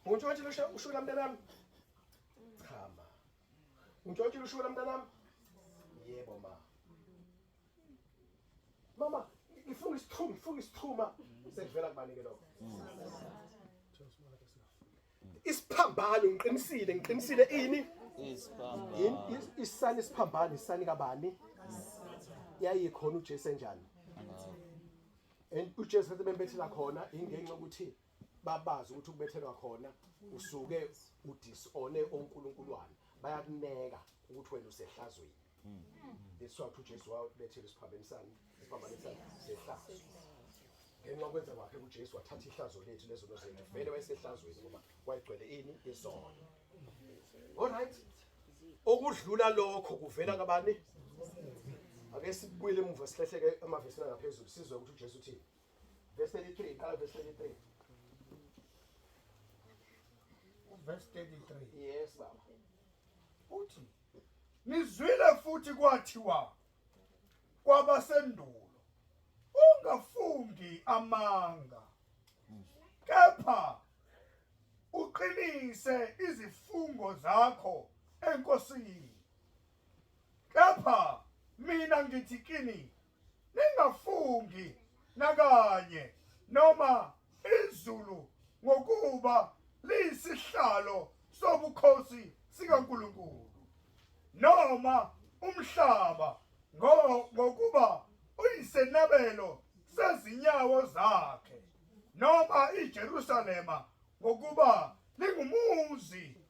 Untshontshile ushula mntanami? Cha ma. Untshontshile ushula mntanami? Yebo ma. Mama, ngifuna isithuma, ngifuna isithuma. Sekuvela kubanike lokho. Isiphambano ngiqinisile, ngiqinisile ini? Isiphambano. Isani isiphambano, isani kabani? Yayikhona uJesu enjani? and uJesu wathi bembethela khona ingenxa ukuthi babazi ukuthi ukubethelwa khona usuke udisone onkulunkuluwane bayakuneka ukuthi wena usehlazweni lesizathu hmm. uJesu wabethela isiphambaneni sami isiphambaneni sami sehlazo ngenxa kwenza kwakhe uJesu wathatha ihlazo lethu lezono zethu vele wayesehlazweni ngoba wayegcwele ini isono Alright. Okudlula lokho kuvela kabani? Ake sibuyele emuva sihleheke emavesini angaphezulu sizwe ukuthi uJesu uthini. Verse 33, qala verse 33. Verse 33. Yes baba. Uthi nizwile futhi kwathiwa kwabasendulo ungafungi amanga kepha uqinise izifungo zakho enkosini kepha mina ngithi kini ningafungi nakanye noma izulu ngokuba liyisihlalo sobukhosi sikaNkulunkulu noma umhlaba ngokuba uyisenabelo sezinyawo zakhe noma iJerusalema ngokuba lingumuzi